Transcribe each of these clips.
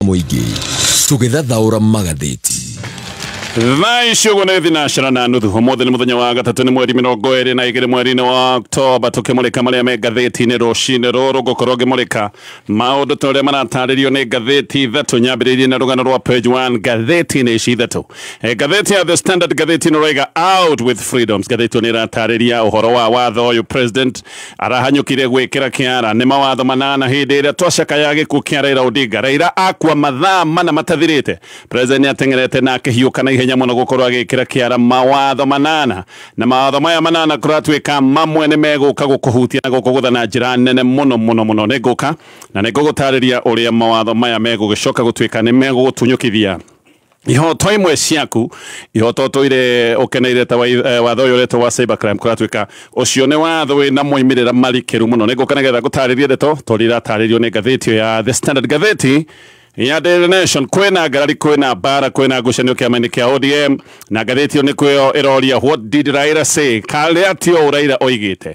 mũingĩ tũgĩthathaũra magathĩti thaa icio ũguo nĩ thinacera na nuthu ũmũthĩ nĩ mũthenya wa gatatũ nĩ mweri mĩrongo ĩrĩ na igĩrĩ mweri-inĩ wa oktoba tũkĩmũrĩka marĩa me ngathĩti-inĩ rũcinĩ rũrũ ngũkorwo ngĩmũrĩka maũndũ ta ũrĩa maratarĩrio nĩ ngathĩti ithatũ nyambĩrĩirie na rũgano rwa page one ngathĩti-inĩ ici ithatũ Eh, ngathĩti ya the standard ngathĩti-inĩ ũraiga out with freedoms ngathĩti ĩyo nĩ ĩratarĩria ũhoro wa watho ũyũ president Arahanyũkire gwĩkĩra kĩara nĩ mawatho manana hĩndĩ ĩrĩa twacakaya gĩkuũ kĩa Raila Odinga. Raila akua mathaa mana matathirĩte, President nĩateng'erete na akĩhiũka na ihenya mũno gũkorwo agĩkĩra kĩara mawatho manana. Na mawatho maya manana kũratuĩka mamwe nĩmegũka gũkũhutia na gũkũgũtha na njĩra nene mũno mũno mũno. Nĩngũka na nĩngũgũtarĩria ũrĩa mawatho maya megũgĩcoka gũtuĩka nĩmegũgũtunyũkithia. ihoto imwe ciaku ihoto tũire ũkeneire ta eh, watho ũyũ ũretwo wa cybercrime kũratuĩka ũcio nĩ watho wĩna moimĩrĩra marikĩru mũno nĩ ngũka nĩgetha ngũtarĩrie ndeto tondũ iratarĩrio nĩ ngathĩti ĩyo ya the standard gatheti ya Daily Nation kwina ngarari kwina bara kwina ngucanio kiama-inĩ kia ODM na ngathĩti ĩyo nĩkuo ĩroria what did Raila say karia tio Raila oigĩte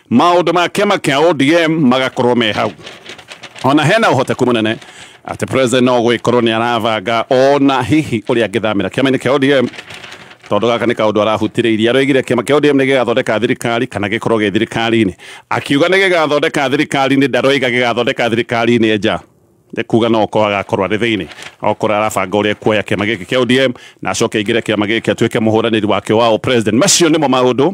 maũndũ ma kĩama kĩa ODM magakorwo me hau ona hena ũhoteku mũnene atĩ president no gwĩkorwo nĩ arabanga ona hihi ũrĩa angĩthamĩra kĩama-inĩ kĩa ODM tondũ gaka nĩ kaũndũ arahutĩrĩirie aroigire kĩama kĩa ODM nĩ gĩgathondeka thirikari kana gĩkorwo gĩ thirikari-inĩ akiuga nĩ gĩgathondeka thirikari-inĩ ndaroiga gĩgathondeka thirikari-inĩ nja nĩ kuga no okorwo agakorwo arĩ thĩinĩ okorwo arabanga ũrĩa kuoya kĩama gĩkĩ kĩa ODM na acoke aingĩre kĩama gĩkĩ atuĩke mũhũranĩri wakĩo wa president macio nĩmo maũndũ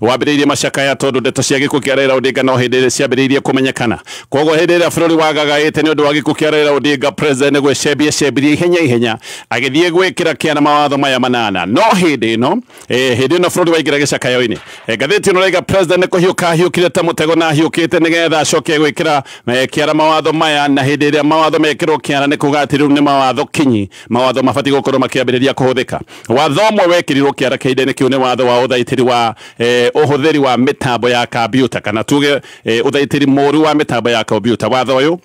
wambĩrĩirie macakaya tondũ ndeto cia gĩkuũ kĩa Raila Odinga no hĩndĩ ĩrĩ ciambĩrĩirie kũmenyekana. Kwoguo hĩndĩ ĩrĩa bũrũri wagagaĩte nĩ ũndũ wa gĩkuũ kĩa Raila Odinga, President nĩ gwĩcembia cembirie ihenya ihenya agĩthiĩ gwĩkĩra kĩana mawatho maya manana. No hĩndĩ ĩno, eh, hĩndĩ ĩno bũrũri waingĩra gĩcakayo-inĩ. Eh, ngathĩti ĩno raiga President nĩ kũhiũka ahiũkire ta mũtego na ahiũkĩte nĩgetha acoke gwĩkĩra eh, kĩana mawatho maya na hĩndĩ ĩrĩa mawatho mekĩrwo kĩana nĩ kuga atĩ rĩu nĩ mawatho kinyi mawatho mabatiĩ gũkorwo makĩambĩrĩria kũhũthĩka Watho ũmwe wekĩrirũo kĩara kĩhinda-inĩ kĩu nĩ watho wa ũthaitĩri wa ũhũthĩri wa mĩtambo ya kambiuta, kana tuuge ũthaitĩri mũũru wa mĩtambo ya kombiuta. Watho ũyũ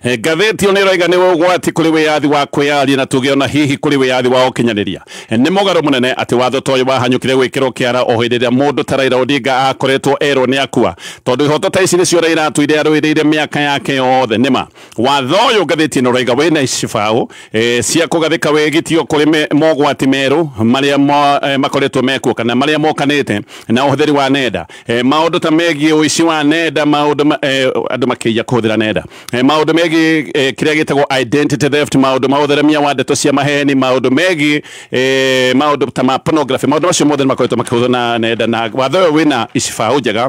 Ngathĩti ĩyo nĩ ĩroiga nĩ ũgwati kũrĩ wĩyathi wa kwĩyaria na tuge o na hihi kũrĩ wĩyathi wa ũkinyanĩria. Nĩ mũgarũ mũnene atĩ watho ta ũyũ wahanyũkire gwĩkĩrũo kĩara o hĩndĩ ĩrĩa mũndũ ta Raila Odinga aakoretwo erũo nĩ akua, tondũ ihoto ta ici nĩcio Raila aatũire arũĩrĩire mĩaka yake yothe. Nĩ ma. Watho ũyũ ngathĩti ĩno raiga wĩna icibaũ e, cia kũgathĩka wĩgitio kũrĩ me- mogwati merũ marĩa mo- e, makoretwo mekuo kana marĩa mokanĩte na ũhũthĩri wa nenda e, maũndũ ta megiĩ ũici wa nenda maũndũ ma- e, andũ makĩiya kũhũthĩra nenda e, maũndũ megiĩ e, kĩrĩa gĩtagwo identity theft maũndũ ma ũtheremia wa ndeto cia maheni maũndũ megiĩ e, maũndũ ta ma pornography maũndũ macio mothe nĩ makoretwo makĩhũthwo na nenda na watho ũyũ wĩna icibaũ njega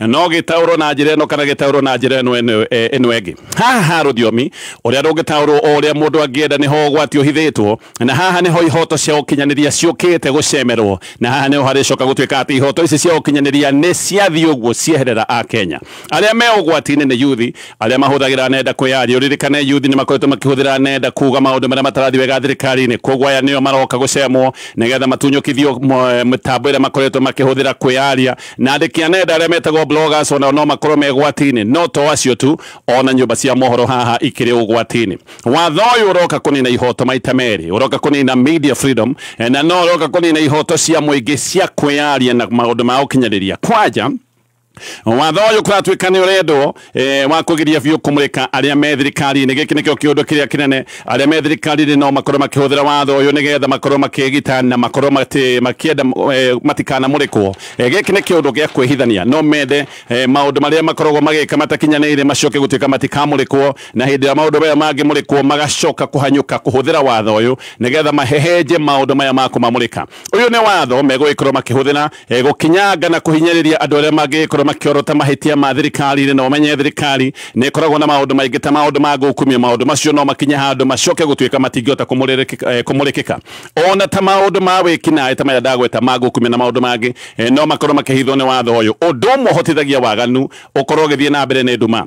no gĩtaũrwo na njĩra ĩno kana gĩtaũrwo na njĩra ĩno ĩno- eh, ĩno ĩngĩ haha rũthiomi ũrĩa rũngĩtaũrwo o ũrĩa mũndũ angĩenda nĩho ũgwati ũhithĩtwo na haha nĩho ihoto cia ũkinyanĩria ciũkĩte gũcemerwo na haha nĩho harĩcoka gũtuĩka atĩ ihoto ici cia ũkinyanĩria nĩ ciathiĩ ũguo cieherera a kenya arĩa me ũgwati-inĩ nĩ yuthi arĩa mahũthagĩra nenda kwĩyaria ũririkane yuthi nĩ makoretwo makĩhũthĩra nenda kuga maũndũ marĩa matarathi wega thirikari-inĩ koguo aya nĩo maroka gũcemwo nĩgetha matunyũkithio mo- mĩtambo ĩrĩa makoretwo makĩhũthĩra kwĩyaria na andĩki a nenda arĩa metagwo bloggers onao no makorwo me gwati-inĩ no to acio tu ona nyũmba cia mohoro haha ikĩrĩ ũgwati-inĩ watho ũyũ ũroka kũnina ihoto maita merĩ ũroka kũnina media freedom eh, na no ũroka kũnina ihoto cia mũingĩ cia kwĩyaria na maũndũ ma ũkinyanĩria kwanja watho ũyũ kũratuĩka nĩ ũrendwo eh, wa kugiria biũ kumurika aria me thirikari-inĩ gĩkĩ nĩkĩo kĩũndũ kĩrĩa kĩnene aria me thirikari-inĩ no makorwo makĩhũthĩra watho ũyũ nĩgetha makorwo makĩgita na makorwo mati- makĩenda eh, matikanamũrĩkwo Eh, gĩkĩ nĩ kĩũndũ gĩa kwĩhithania no mende eh, maũndũ marĩa makoragwo magĩka matakinyanĩire macoke gũtuĩka matikamũrĩkwo na hĩndĩ ĩrĩa maũndũ maya mangĩmũrĩkwo magacoka kũhanyũka kũhũthĩra watho ũyũ nĩgetha mahehenje maũndũ maya ma kũmamũrĩka ũyũ nĩ watho megũgĩkorwo makĩhũthĩra E, gũkinyanga na kũhinyĩrĩria andũ arĩa mangĩgĩkorwo makĩorota mahĩtia ma thirikari-inĩ na ũmenye thirikari nĩ ĩkoragwo na maũndũ maingĩ ta maũndũ ma gũkumia maũndũ macio no makinye handũ macoke gũtuĩka matingĩhota kũmũrĩrĩkĩka- eh, kũmũrĩkĩka ona ta maũndũ ma wĩkinaĩ ta maya ndagweta ma gũkumia na maũndũ mangĩ eh, no makorwo makĩhithwo nĩ watho ũyũ ũndũ ũmwe ũhotithagia waganu ũkorwo ũgĩthiĩ na mbere nĩ nduma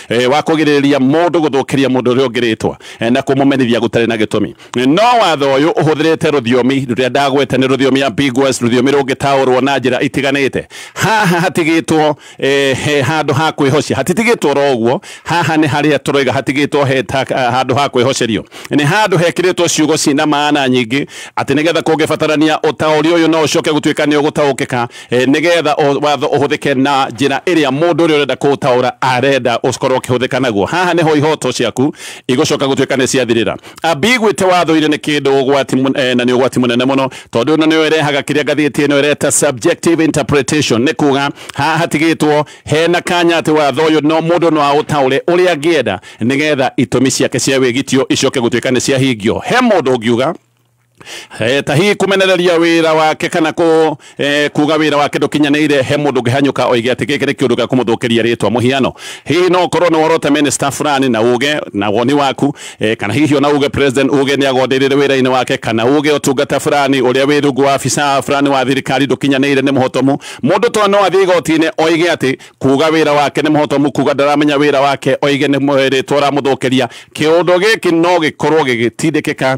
e, wa kũgirĩrĩria mũndũ gũthũkĩria mũndũ ũrĩa ũngĩ rĩtwa e, na kũmũmenithia gũtarĩ na gĩtũmi E, no watho ũyũ ũhũthĩrĩte rũthiomi rũrĩa ndagwete nĩ rũthiomi ya ambiguous rũthiomi rũngĩtaũrwo na njĩra itiganĩte haha hatigĩtwo e, he handũ ha kwĩhocia hatitigĩtwo ro ũguo haha nĩ harĩa tũroiga hatigĩtwo he ta- handũ ha kwĩhocerio nĩ handũ hekĩrĩtwo ciugo ciĩna maana nyingĩ atĩ nĩgetha kũngĩbatarania ũtaũri ũyũ no ũcoke gũtuĩka nĩ ũgũtaũkĩka Eh, nigetha watho uhuthike na njira iria mundu uria urenda kuutaura arenda ukorwo ukihuthika naguo haha niho ihoto ciaku igucoka gutuika ni ciathirira ambiguite watho-ini ni kindu ugwati eh, na ni ugwati munene muno tondu ino niyo irehaga kiria ngathiti ino ireta subjective interpretation ni kuga haha hatigitwo hena kanya ati watho uyu no mundu no autaure uria angienda nigetha itumi ciake cia wigitio icoke gutuika ni ciahingio he mundu ungiuga Eh, ta hihi kumenereria wira wake kana ku eh, kuga wira wake ndukinyanire he mundu ngihanyuka oige ati giki ni kiundu gia kumuthukiria ritwa muhiano hihi no korwo ni worota minister fulani na uge na woni waku eh, kana hihi ona uge president uge ni agondirire wira-ini wake kana uge utungata fulani uria wi rungu wa afisa fulani wa thirikari ndukinyanire ni muhotomu mundu to no athii gotini oige ati kuga wira wake ni muhotomu kuga ndaramenya wira wake oige ni ritwa ramuthukiria kiundu giki no gikorwo gigitindikika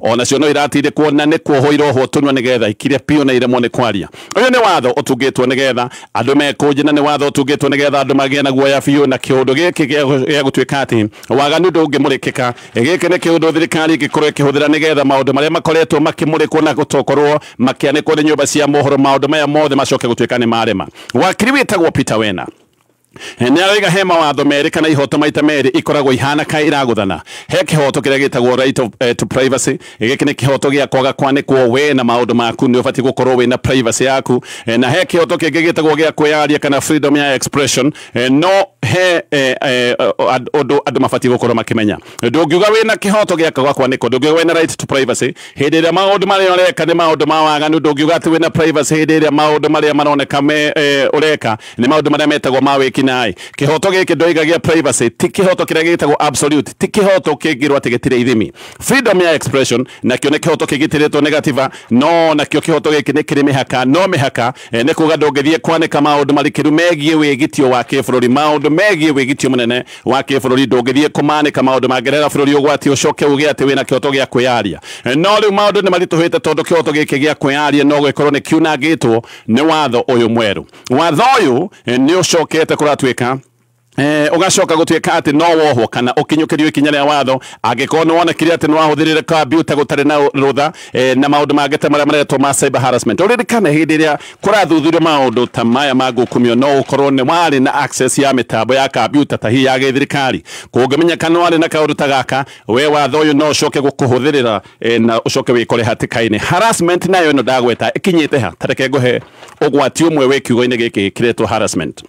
O nacio no iratindĩkwo na nĩ kuohwo irohwo tũnua nĩgetha ikire biũ na iremwo nĩ kwaria. Ũyũ nĩ watho ũtungĩtwo nĩgetha andũ mekũnje na nĩ watho ũtungĩtwo nĩgetha andũ magĩe na guoya biũ na kĩũndũ gĩkĩ gĩa gũtuĩka atĩ waganu ndũngĩmũrĩkĩka. Gĩkĩ nĩ kĩũndũ thirikari ĩngĩkorwo ĩkĩhũthĩra nĩgetha maũndũ marĩa makoretwo makĩmũrĩkwo na gũtokorwo makĩanĩkwo nĩ nyũmba cia mohoro maũndũ maya mothe macoke gũtuĩka nĩ marema. Wakiri wĩtagwo Peter Wena. Nĩaroiga he mawatho merĩ kana ihoto maita merĩ ikoragwo ihana ka iragũthana. He kĩhoto kĩrĩa gĩtagwo right of, eh, to privacy. Gĩkĩ nĩ kĩhoto gĩa kwaga kwanĩkwo we na maũndũ maku, nĩ ũbatiĩ gũkorwo wĩna privacy yaku. Eh, na he kĩhoto kĩngĩ gĩtagwo gĩa kwĩyaria kana freedom ya expression. Eh, no he eh, eh, ũndũ andũ mabatiĩ gũkorwo makĩmenya. ndũngiuga wĩna kĩhoto gĩa kwaga kwanĩkwo ndũngiuga wĩna right to privacy hĩndĩ ĩrĩa maũndũ marĩa ũreka nĩ maũndũ ma waganu ndũngiuga atĩ wĩna privacy hĩndĩ ĩrĩa maũndũ marĩa maroneka me eh, ũreka nĩ maũndũ marĩa metagwo ma wĩkinaĩ kĩhoto gĩkĩ ndũigagia privacy ti kĩhoto kĩrĩa gĩtagwo absolute ti kĩhoto kĩngĩrwo atĩ gĩtirĩ ithimi freedom ya expression nakĩo nĩ kĩhoto kĩgitĩrĩtwo nĩ gatiba no nakĩo kĩhoto gĩkĩ nĩ kĩrĩ mĩhaka no mĩhaka eh, nĩ kuga ndũngĩthiĩ kwanĩka maũndũ marikĩru megiĩ wĩgitio wa kĩbũrũri maũndũ megiĩ wĩgitio mũnene wa kĩbũrũri ndũngĩthiĩ kũmanĩka maũndũ mangerera bũrũri ũgwati ũcoke uge atĩ wĩna kĩhoto gĩa kwĩyaria no rĩu maũndũ nĩ maritũhĩte tondũ kĩhoto gĩkĩ gĩa kwĩyaria no gĩkorwo nĩ kiunangĩtwo nĩ watho ũyũ mwerũ watho ũyũ nĩ ũcokete kũratuĩka Eh, ugacoka gutuika ati no wohwo kana ukinyukirio ikinya ria watho angikorwo ni wonekire ati ni wahuthirire kambiuta gutari na rutha eh, na maundu mangĩ ta maria maretwo ma cyber harassment uririkane hindi iria Kũrathuthurio maũndũ ta maya ma ngukumio no gũkorwo nĩ warĩ na access ya mĩtambo ya kambiuta ta hihi ya gĩthirikari. Kũngĩmenyeka nĩ warĩ na kaũndũ ta gaka, we watho ũyũ no ũcoke gũkũhũthĩrĩra na ũcoke wĩkore hatĩka-inĩ. Harassment nayo ĩno ndagweta ĩkinyĩte ha? Ta reke ngũhe ũgwati ũmwe wĩ kiugo-inĩ gĩkĩ gĩkĩretwo harassment.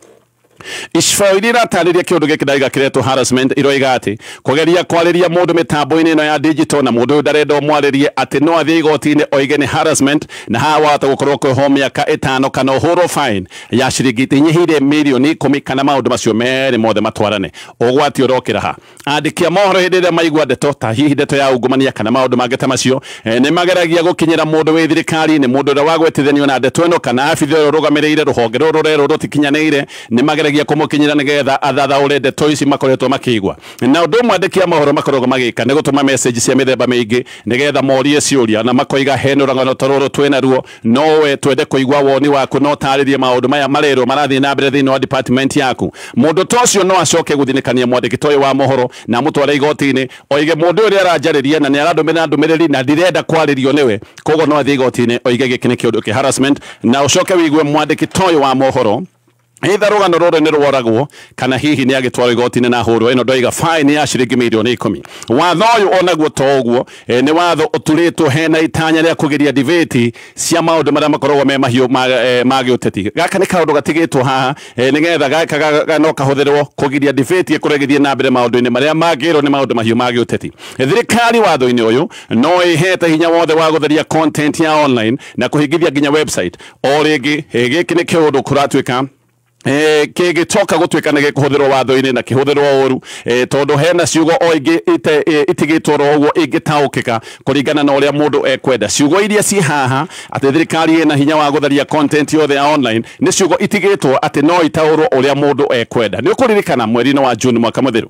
Icoiri iratarĩria kĩũndũ gĩkĩ ndaiga kĩretwo harassment iroiga atĩ kũgeria kwarĩria mũndũ mĩtambo-inĩ ĩno ya digital na mũndũ ũyũ ndarenda ũmwarĩrie atĩ no athiĩ igoti-inĩ oige nĩ harassment na haha wahota gũkorwo kweho mĩaka ĩtano kana ũhũrwo fine ya ciringi inyihĩire mirioni ikũmi kana maũndũ macio merĩ mothe matwarane. Ũgwati ũrokĩra ha? Andĩki a mohoro hĩndĩ ĩrĩa maigua ndeto ta hihi ndeto ya ungumania kana maũndũ mangĩ ta macio, eh, nĩ mageragia gũkinyĩra mũndũ wĩ thirikari-inĩ, mũndũ ũrĩa wagwetithanio na ndeto ĩno kana abitha ũrĩa ũrũgamĩrĩire rũhonge rũrũ rũrerwo rũtikinyanĩire, nĩ mageragia kũmũkinyĩra nĩgetha athathaũre ndeto ici makoretwo makĩigua. Na ũndũ ũmwe andĩki a mohoro makoragwo magĩka nĩ gũtũma message cia mĩthemba mĩingĩ nĩgetha morie ciũria na makoiga he na ũragano ta rũrũ twĩnaruo no we twende kuigua woni waku no tarĩrie maundu maya marerwo marathiĩ na mbere thĩinĩ wa department yaku mũndũ ta ũcio no acoke gũthinĩkania mwandĩki ta ũyũ wa mohoro na mũtware igoti-inĩ oige mũndũ ũyũ nĩaranjarĩria na nĩarandũmĩra ndũmĩrĩri na ndirenda kwarĩrio nĩwe koguo no athiĩ igoti-inĩ oige gĩkĩ nĩ kĩũndũ kĩ harassment na ũcoke wĩigue mwandĩki ta ũyũ wa mohoro Either rũgano rũrũ nĩ rworagwo kana hihi nĩ agĩtwarwo igoti-inĩ na hũrwo ĩno ndoiga fine ya ciringi mirioni ikũmi. Watho ũyũ onaguo to ũguo eh, nĩ watho ũturĩtwo hena itanya rĩa kũgiria debate cia maũndũ marĩa makoragwo me mahiũ ma, eh, ma gĩũteti. Gaka nĩ kaũndũ gatigĩtwo haha eh, nĩgetha gaka ga- ga- no kahũthĩrwo kũgiria debate ĩkorwo ĩgĩthiĩ na mbere maũndũ-inĩ marĩa mangĩrwo nĩ maũndũ mahiũ ma gĩũteti. Thirikari watho-inĩ ũyũ no ĩhete hinya wothe wa gũtheria content ya online na kũhingithia nginya website. o rĩngĩ eh, gĩkĩ nĩ kĩũndũ kũratuĩka Eh, kĩgĩcoka gũtuĩka nĩ gĩkũhũthĩrwo watho-inĩ na kĩhũthĩrwo ũru eh, tondũ hena ciugo o ingĩ ite- eh, itigĩtwo ro ũguo ingĩtaũkĩka kũringana na ũrĩa mũndũ ekwenda ciugo iria ciĩ haha atĩ thirikari ĩna hinya wa gũtharia content yothe ya online nĩ ciugo itigĩtwo atĩ no itaũrwo ũrĩa mũndũ ekwenda nĩ ũkũririkana mweri-inĩ wa june mwaka mũthiru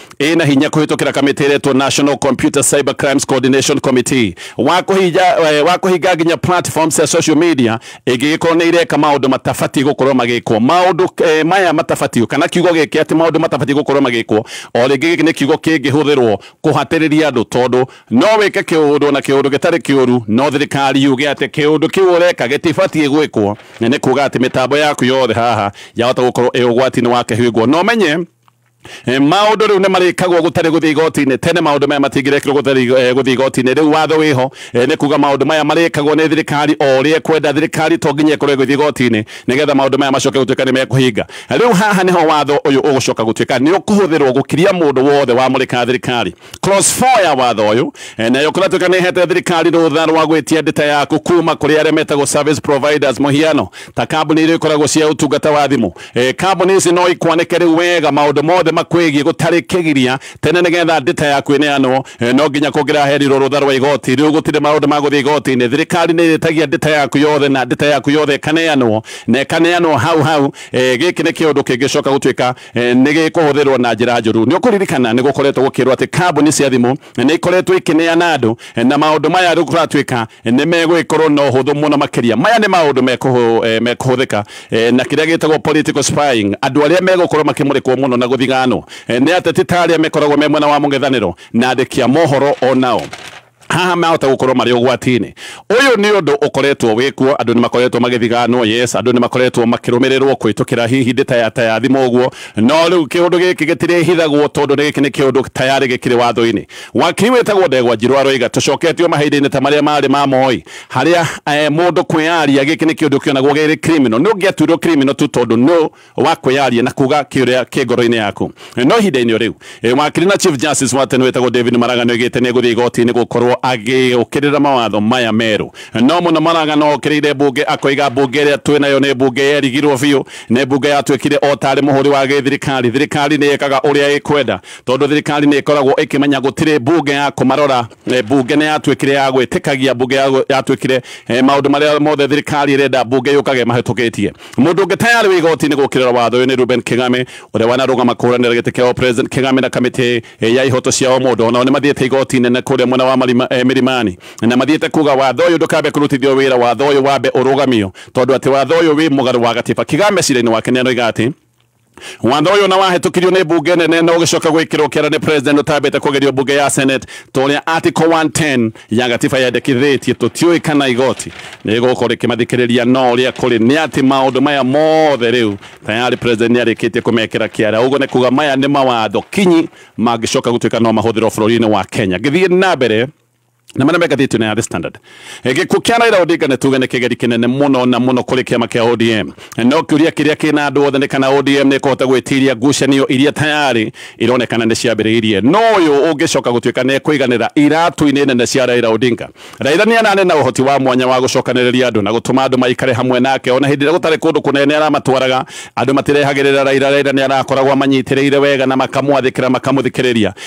ĩ na hinya kũhĩtũkĩra kamĩtĩ ĩretwo National Computer Cyber Crimes Coordination Committee wa kũhinga eh, wa kũhinga nginya platforms cia social media ĩngĩgĩkorwo nĩ ireka maũndũ matabatiĩ gũkorwo magĩkwo maũndũ eh, maya matabatiĩ kana kiugo gĩkĩ atĩ maũndũ matabatiĩ gũkorwo magĩkwo o rĩngĩ gĩkĩ nĩ kiugo kĩngĩhũthĩrwo kũhatĩrĩria andũ tondũ no wĩke kĩũndũ na kĩũndũ gĩtarĩ kĩũru no thirikari yuge atĩ kĩũndũ kĩu ũreka gĩtibatiĩ gwĩkwo na nĩ kuga atĩ mĩtambo yaku yothe haha yahota gũkorwo ĩ ũgwati-inĩ wa kĩhingwo no menye Eh, maundu riu ni marikagwo gutari guthii igoti-ini tene maundu maya matingirekirwo gutari eh, guthii igoti-ini riu watho wiho eh, ni kuga maundu maya marikagwo ni thirikari o ri ekwenda thirikari to nginya ikorwo iguthii igoti-ini nigetha maundu maya macoke gutuika ni mekuhinga riu haha niho watho uyu ugucoka gutuika ni ukuhuthirwo gukiria mundu wothe wamurika thirikari Clause 4 ya watho ũyũ eh, nayo kũratuĩka nĩ hete thirikari rũtha rwa gwĩtia ndĩta yaku kuma kũrĩ arĩa metagwo service providers mũhiano ta kambuni iria ikoragwo cia ũtungata wa thimũ eh, kambuni ici no ikwanĩke rĩu wega maũndũ mothe makwĩgiĩ gũtarĩ kĩgiria tene nĩgetha ndĩta yaku ĩneanwo eh, no nginya kũngĩraherirwo rũtha rwa igoti rĩu gũtirĩ maũndũ ma gũthiĩ igoti-inĩ thirikari nĩ ĩrĩtagia ndĩta yaku yothe na ndĩta yaku yothe ĩkaneanwo na ĩkaneanwo hau hau eh, gĩkĩ nĩ kĩũndũ kĩngĩcoka gũtuĩka eh, nĩ gĩkũhũthĩrwo na njĩra njũru. Nĩ ũkũririkana nĩ gũkoretwo gũkĩrwo atĩ kambuni cia thimũ eh, nĩ ikoretwo ikĩneana andũ eh, na maũndũ maya rĩu kũratuĩka nĩ megũgĩkorwo na ũhũthũ mũno makĩria. Maya nĩ maũndũ mekũhũthĩka na kĩrĩa gĩtagwo political spying. Andũ arĩa megũkorwo makĩmũrĩkwo mũno na gũthiganwo nĩ ateti ta arĩa mekoragwo me mwena wa mũng'ethanĩro na andĩki a mohoro o nao. haha mahota gukorwo mari ugwati-ini uyu ni undu ukoretwo wikuo andu ni makoretwo magithiganwo yes andu ni makoretwo makirumirirwo kwitukira hihi ndi taya taya thimu uguo no riu kiundu giki gitiri hithagwo tondu ni giki ni kiundu tayari gikiri watho-ini waki witagwo ndegwa njirwa roiga tucoketio mahinda-ini ta maria mari ma moi haria eh, mundu kwiaria giki ni kiundu kionagwo giri criminal ni ungiatuirwo criminal tu tondu no wa kwĩyaria na kuga kĩũrĩa kĩ ngoro-inĩ yaku no ihinda-inĩ rĩu eh, wakiri na chief justice wa tene wĩtagwo david maraga nĩ oigĩte nĩ egũthiĩ igoti-inĩ gũkorwo agĩũkĩrĩra mawatho maya merũ no mũno maraga no okĩrĩire mbunge akoiga mbunge ĩrĩa twĩ nayo nĩ mbunge yerigirwo biũ nĩ mbunge yatuĩkire o tarĩ mũhũri wa gĩthirikari thirikari nĩ ĩkaga ũrĩa ĩkwenda tondũ thirikari nĩ ĩkoragwo ĩkĩmenya gũtirĩ mbunge ya kũmarora eh, mbunge nĩ yatuĩkire ya gwĩtĩkagia mbunge ya- yatuĩkire eh, maũndũ marĩa mothe thirikari ĩrenda mbunge yũkage mahĩtũkĩtie Mũndũ ũngĩ tayarĩ wĩ igoti-inĩ gũkĩrĩra watho ũyũ nĩ Reuben Kĩgame, ũrĩa wanarũgama kũhũranĩra gĩtĩ kĩa Ũpresident. Kĩgame na kamĩtĩ ya ihoto cia ũmũndũ o nao nĩ mathiĩte igoti inene kũrĩa mwena wa Milimani na mathiĩte kuuga watho ũyũ ndũkabe kũrutithio wĩra, watho ũyũ wambe ũrũgamio tondũ atĩ watho ũyũ wĩ mũgarũ wa gatiba. Kĩgame cira-inĩ wake nĩ aroiga atĩ. Watho ũyũ na wahĩtũkirio nĩ mbunge nene na ũgĩcoka gwĩkĩrwo kĩara nĩ president ũtambĩte kũgerio mbunge ya senate ta ũrĩa article 110 ya gatiba yendekithĩtie tũtiũĩ kana igoti nĩ gũkorwo rĩkĩmathikĩrĩria no ũrĩa kũrĩ nĩ atĩ maũndũ maya mothe rĩu tayarĩ president nĩ arĩkĩtie kũmekĩra kĩara ũguo nĩ kuga maya nĩ mawatho kinyi mangĩcoka gũtuĩka no mahũthĩrwo bũrũri-inĩ wa kenya ngĩthiĩ na mbere na marĩa mengathĩtio na the standard Eh, gĩkuũ kĩa Raila Odinga nĩ tuge nĩ kĩgeri kĩnene mũno na mũno kũrĩ kĩama kĩa ODM Eh, no kĩũria kĩrĩa kĩna andũ othe nĩ kana ODM nĩ kũhota gwĩtiria ngucanio iria tayarĩ ironekana nĩ ciambĩrĩirie no ũyũ ũngĩcoka gũtuĩka nĩ ekũiganĩra iratũ-inĩ nene cia Raila Odinga Raila nĩ anane na ũhoti wa mwanya wa gũcokanĩrĩria andũ na gũtũma andũ maikare hamwe nake ona hĩndĩ ĩrĩa gũtarĩ kũndũ kũnene nĩ aramatwaraga andũ matirehagĩrĩra Raila Raila nĩ arakoragwo amanyitĩrĩire wega na makamwathĩkĩra makamũthikĩrĩria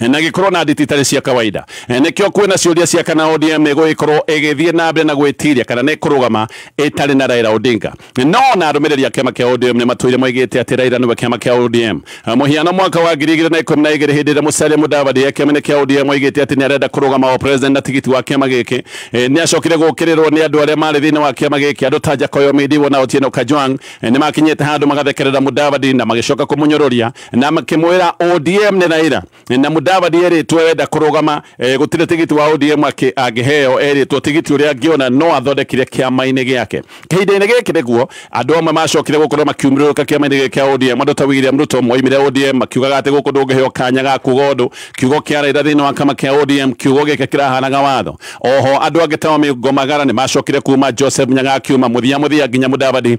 Eh, na gikorwo na nditi itari cia kawaida eh, nikio kwina ciuria cia kana ODM igugikorwo igithie na mbere na gwitiria kana ni kurugama itari na Raila Odinga eh, no na arumiriri a kiama kia ODM ni matwire moigite ati Raila niwe kiama kia ODM muhiano mwaka wa ngiri igiri na ikumi na igiri hindi ria Musalia Mudavadi ya kiama kia ODM oigite ati ni arenda kurugama o president na tigiti wa kiama giki ni acokire gukirirwo ni andu aria mari thiini wa kiama giki andu ta Jakoyo Midiwo na Otieno Kajwang ni makinyite handu magathekerera Mudavadi na magicoka kumunyururia na makimwira ODM ni Raila na Mudavadi eritwo wenda kurugama eh, gutire tigiti wa ODM aki angiheo eritwo tigiti uria angiona no athondekire kiama-ini giake kahinda-ini giki niguo andu amwe macokire gukorwo makiumiriruka kiama-ini giki kia ODM andu ta William Ruto moimire ODM makiugaga ati guku ndungiheo kanya ga kuga undu kiugo kia Raila thiini wa kama kia ODM kiugo giki kirahanaga watho oho andu angi ta Omingo Magara ni macokire kuma Joseph Nyaga akiuma muthia muthia nginya Mudavadi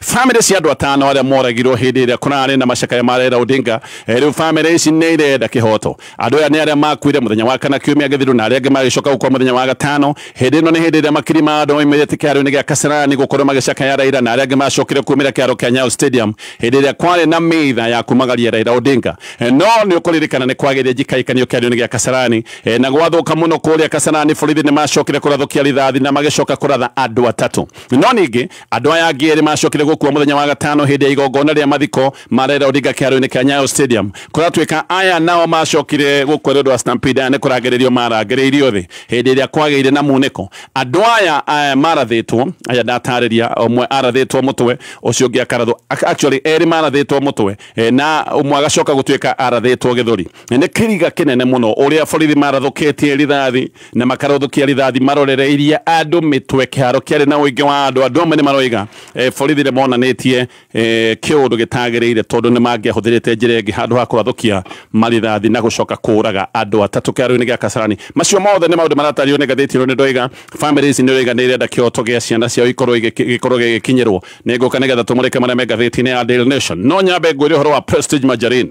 Famĩlĩ cia andũ atano arĩa moragirwo hĩndĩ ĩrĩa kũrarĩ na macakaya ma Raila Odinga, eh, rĩu famĩlĩ ici nĩ irenda kĩhoto. Andũ aya nĩ arĩa makuire mũthenya wa kana kiumia gĩthiru na arĩa angĩ magĩcoka gũkua mũthenya wa gatano. Hĩndĩ ĩno nĩ hĩndĩ ĩrĩa makiri ma andũ moimĩrĩte kĩharo-inĩ gĩa Kasarani gũkorwo magĩcakaya Raila na arĩa angĩ macokire kumĩra kĩharo kĩa Nyayo Stadium hĩndĩ ĩrĩa kwarĩ na mitha ya kumagaria Raila Odinga. Eh, no nĩ ũkũririkana nĩ kwagĩire njikaĩkanio kĩharo-inĩ gĩa Kasarani eh, na gwathũka mũno kũrĩa Kasarani, borithi nĩ macokire kũrathũkia rithathi na magĩcoka kũratha andũ atatũ. No ningĩ andũ aya angĩ erĩ macokire gũkua mũthenya wa gatano hĩndĩ ya igongona rĩa mathiko ma Raila Odinga kĩharo-inĩ kĩa Nyayo Stadium. Kũratuĩka aya nao macokire gũkua nĩ ũndũ wa Stampede aya nĩ kũrangĩrĩrio marangĩrĩirio thĩ hĩndĩ ĩrĩa kwagĩire na munĩko. Andũ aya eh, marathĩtwo, aya ndatarĩria, ũmwe arathĩtwo mũtwe, ũcio ũngĩ akarathwo, ac- actually erĩ marathĩtwo mũtwe eh, na ũmwe agacoka gũtuĩka arathĩtwo gĩthũri. Nĩ kĩriga kĩnene mũno ũrĩa borithi marathũkĩtie rithathi na makarũthũkia rithathi marorereirie andũ mĩtwe kĩharo kĩarĩ na ũingĩ wa andũ andũ amwe nĩ maroiga eh, borithi nĩ monanĩtie eh, kĩũndũ gĩtagĩrĩire tondũ nĩ mangĩahũthĩrĩte njĩra ĩngĩ handũ ha kũrathũkia marithathi na gũcoka kũraga andũ atatũ kĩharo-inĩ gĩa kasarani macio mothe nĩ maũndũ maratario nĩ ngathĩti ĩno nĩ ndoiga famĩlĩ ici nĩ ũraiga nĩ irenda kĩoto gĩa ciana ciao ikorwo igĩki- gĩkorwo gĩgĩkinyĩrwo nĩ ngũka nĩ getha tũmũrĩke marĩa me ngathĩti-inĩ ya Daily Nation no nyambe ngwĩre ũhoro wa Prestige Margarine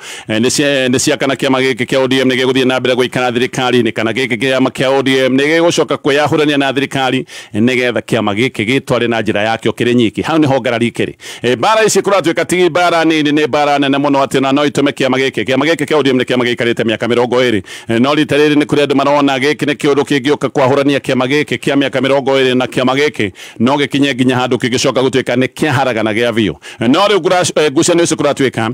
Eh, nĩ cia kana kĩama gĩkĩ kĩa ODM nĩ gĩgũthiĩ na mbere gũikara thirikari-inĩ kana gĩkĩ kĩama kĩa ODM nĩ gĩgũcoka kwĩyahũrania na thirikari nĩgetha kĩama gĩkĩ gĩtware na njĩra yakĩo kĩrĩ nyiki hau nĩho ngarari ikĩrĩ eh, mbara ici kũratuĩka ti mbara nini nĩ mbara nene mũno atĩ na no itũme kĩama gĩkĩ kĩama gĩkĩ kĩa ODM nĩ kĩama gĩikarĩte mĩaka mĩrongo ĩrĩ eh, no rita rĩrĩ nĩ kũrĩ andũ marona gĩkĩ nĩ kĩũndũ kĩngĩũka kwahũrania kĩama gĩkĩ kĩa mĩaka mĩrongo ĩrĩ na kĩama gĩkĩ no gĩkinye nginya handũ kĩngĩcoka gũtuĩka nĩ kĩaharagana gĩa biũ no rĩu ngucanio ici kũratuĩka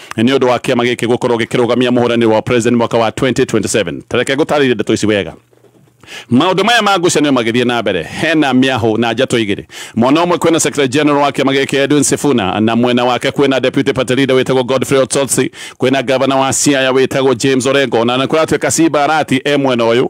nĩ ũndũ wa kĩama gĩkĩ gũkorwo gĩkĩrũgamia mũhũranĩri wa president mwaka wa 2027 tareke ngũtarĩrie ndeto ici wega maundu maya ma ngucanio magithie na mbere hena miahu na njato igiri mwena umwe kwina secretary general wa kiama giki Edwin Sifuna na mwena wake kwina deputy party leader witagwo Godfrey Otsotsi kwina governor wa Siaya witagwo James Orengo na na kuratuika Simba Arati e mwena uyu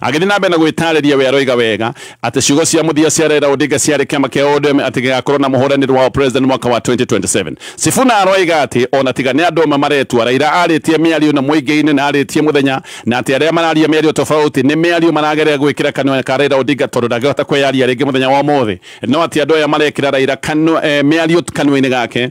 Agĩthiĩ na mbere na gwĩtaarĩria we aroiga wega atĩ ciugo cia mũthia cia Raila Odinga ciarĩ kĩama kĩa ODM atĩ gĩgakorwo na mũhũranĩri wa president mwaka wa 2027. Sifuna aroiga atĩ ona tiga nĩ andũ amwe maretua, Raila arĩtie mĩario na mũingĩ-inĩ na arĩtie mũthenya na atĩ arĩa mararia mĩario tofauti nĩ mĩario marageria gwĩkĩra kanua ka Raila Odinga tondũ ndangĩhota kwĩyaria rĩngĩ mũthenya wa ũmũthĩ. No atĩ andũ aya marekĩra Raila eh, mĩario kanua-inĩ gake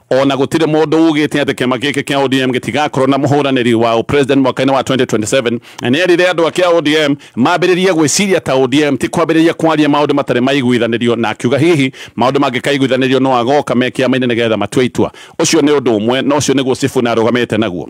Ona gũtirĩ mũndũ ugĩte atĩ kĩama gĩkĩ kĩa ODM gĩtigakorwo na mũhũranĩri wa ũpresident mwaka-inĩ wa 2027 na nĩ erire andũ a kĩa ODM mambĩrĩrie gwĩciria ta ODM ti kwambĩrĩria kwaria maũndũ matarĩ maiguithanĩrio na akiuga hihi maũndũ mangĩkaiguithanĩrio no agoka me kĩama-inĩ nĩgetha matue itua. Ũcio nĩ ũndũ ũmwe na ũcio nĩguo Sifuna arũgamĩte naguo.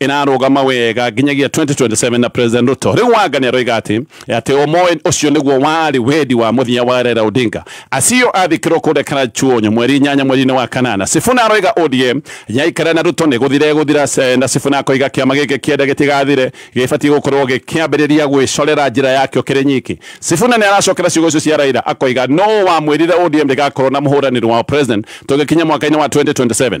ĩrarũgama wega nginyagia 2027 na President Ruto. Rĩu Wanga nĩ aroiga atĩ atĩ ũmũĩ ũcio nĩguo warĩ wendi wa mũthenya wa Raila Odinga. Acio athikĩrwo kũrĩa Karachuonyo mweri inyanya mweri-inĩ wa kanana. Sifuna aroiga ODM yaikara na Ruto nĩ gũthira ĩgũthira na Sifuna akoiga kĩama gĩkĩ kĩenda gĩtigathire gĩbatiĩ gũkorwo gĩkĩambĩrĩria gwĩcorera njĩra yakĩo kĩrĩ nyiki. Sifuna nĩ aracokera ciugo icio cia Raila akoiga nũ wamwĩrire ODM ndĩgakorwo na mũhũranĩri wao President tũgĩkinya mwaka-inĩ wa 2027.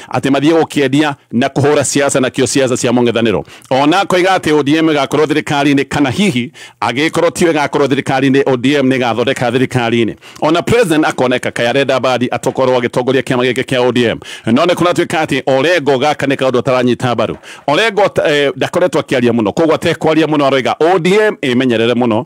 atĩ mathiĩ gũkĩendia na kũhũra siasa nakĩo siasa cia mũng'ethanĩro ona akoiga atĩ ODM ĩgakorwo thirikari-inĩ kana hihi agĩkorwo tiyo ĩgakorwo thirikari-inĩ ODM nĩ ĩgathondeka thirikari-inĩ ona president akoneka kaya arenda mbadi atokorwo agĩtongoria kĩama gĩkĩ kĩa ODM no nĩ kũratuĩka atĩ Orengo gaka nĩ kaũndũ ataranyita mbaru Orengo eh, ndakoretwo akĩaria mũno koguo atekwaria mũno aroiga ODM ĩmenyerere mũno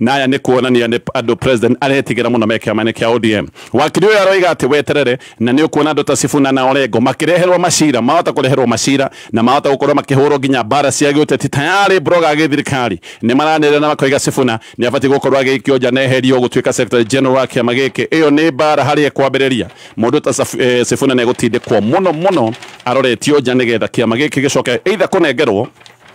na aya nĩ kuonania nĩ andũ president aretigĩra mũno me kĩama-inĩ kĩa ODM. Wakiri ũyũ aroiga atĩ weterere na nĩ ũkuona andũ ta Sifuna na Orengo makĩreherwo macira, mahota kũreherwo macira na mahota gũkorwo makĩhũrwo nginya mbara cia gĩũteti tayarĩ broga a gĩthirikari nĩ maranĩrĩra na makoiga Sifuna nĩ abatiĩ gũkorwo agĩikio nja na eherio gũtuĩka secretary general wa kĩama gĩkĩ. Ĩyo nĩ mbara harĩa ĩkwambĩrĩria. Mũndũ ta Saf- eh, Sifuna nĩ egũtindĩkwo mũno mũno aroretio nja nĩgetha kĩama gĩkĩ gĩcoke either kũnengerwo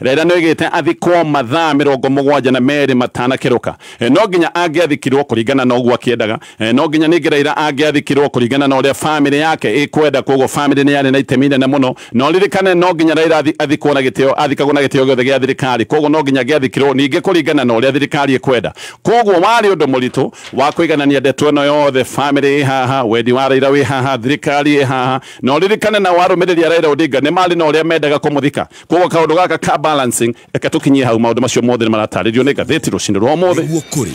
Raila nĩoigĩte athikwo mathaa mĩrongo mũgwanja na merĩ matanakerũka. No nginya angĩathikirwo kũringana na ũguo akĩendaga. No nginya ningĩ Raila angĩathikirwo kũringana na ũrĩa famĩlĩ yake ĩkwenda kwoguo famĩlĩ nĩyarĩ na itemi inene mũno. Na ũririkane no nginya Raila athikwo na gĩtĩo, athikagwo na gĩtĩo gĩothe gĩa thirikari kwoguo no nginya angĩathikirwo ningĩ kũringana na ũrĩa thirikari ĩkwenda. Kwoguo warĩ ũndũ mũritũ wa kũiganania ndeto ĩno yothe, famĩlĩ ĩ haha, wendi wa Raila wĩ haha, thirikari ĩ haha. Na ũririkane nao arũmĩrĩri a Raila Odinga nĩmarĩ na ũrĩa mendaga kũmũthika. koguo kaundu gaka ka balancing reke tukinyie hau maundu macio mothe ni maratarĩrio nĩ ngathĩti rũcinĩ rwa ũmũthĩ nĩguo kũrĩ